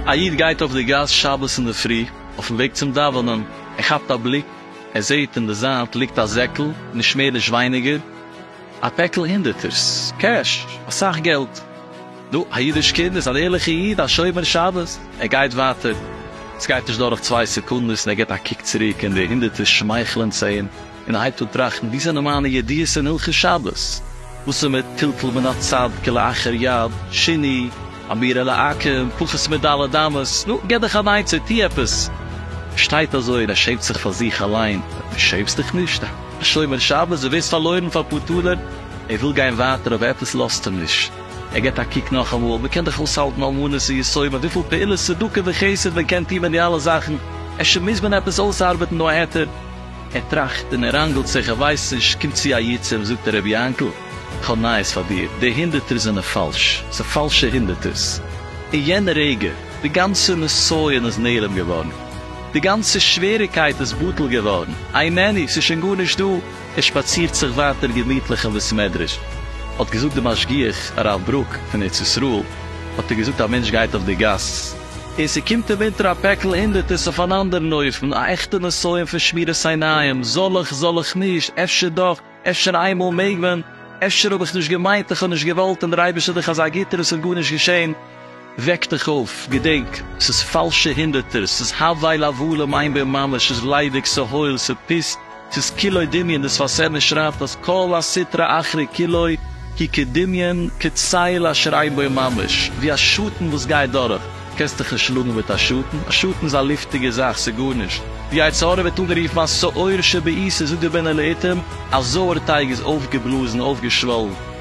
א איד גייט אויף די גאס שבת אינדערפרי אויפן וועג צום דאווענען, ער כאפט א בליק, ער זעהט אין די זייט ליגט א זעקל, נישט מער נישט ווייניגער א פעקל הונדערטערס, קעש, אסאך געלט, נו, א אידיש קינד איז אן ערליכע איד, א שומר שבת, ער גייט ווייטער, סגייט נישט דורך צוויי סעקונדעס און ער גיבט א קוק צוריק און די הונדערטערס שמייכלען צו אים. און ער הייבט אן טראכטן וואו זענען מיינע ידיעות אין הלכות שבת, וואס איז מיט טלטול מן הצד כלאחר יד, שיני, אמירה לעקם, פחות מד' אמות, נו, געב דיך אן עצה, טו עפעס. ער שטייט אזוי און ער שעמט זיך פאר זיך אליין, דו שעמסט דיך נישט? א שומר שבת, דו ווערסט פארלוירן פאר אפאר טאלער? ער וויל גיין ווייטער אבער עפעס לאזט אים נישט, ער גיבט א קוק נאכאמאל, מען קען דאך אויסהאלטן אלמנות און יתומים, וויפיל פעולות צדקה וחסד מען קען טון מיט די אלע זאכן, אפשר מוז מען עפעס אויסארבעטן נאר היתר, ער טראכט און ער ראנגלט זיך, ער ווייסט נישט, קומט צו א יו ט און זאגט הרב יענקל, איך האב נייעס פאר דיר, די הונדערטערס זענען פאלש, ס'איז פאלשע הונדערטערס. אין יענע רגע, די גאנצע נסיון איז נעלם געווארן, די גאנצע שוועריקייט איז בטל געווארן, איי מעני, ס'איז שוין גארנישט דא, ער שפאצירט זיך ווייטער געמיטליך אין בית מדרש. האט געזאגט די משגיח, הרב ברוק, פון ארץ ישראל, האט ער געזאגט, א מענטש גייט אויף די גאס, און ס'קומט אים אונטער א פעקל הונדערטערס אויף אן אנדערן אופן, א עכטע נסיון פון שמירת עיניים, זאל איך, זאל איך נישט, אפשר דאך, אפשר איינמאל מעג מען, אפשר האב איך נישט געמיינט, איך האב נישט געוואלט, און דער אייבערשטער איז דאך אזא גוטער, עס איז גארנישט געשען. וועק דיך אויף, געדענק, ס'איז פאלשע הונדערטערס, ס'איז הבל הבלים, איין בין ממש, ס'איז ליידיג, ס'איז הויל, ס'איז פיסט. ס'איז כולו דמיון, די שפת אמת שרייבט אז כל הסטרא אחרא כולו היא כדמיון, כצל אשר אין בו ממש, ווי א שאטן וואס גייט דורך, קענסט דיך נישט שלאגן מיט א שאטן, א שאטן איז א לופטיגע זאך, ס'איז גארנישט, די יצר הרע ווערט אנגערופן א שעור שבעיסה, זאגט דער בן אליעתר, א זויער טייג איז אויפגעבלאזן, אויפגעשוואלן.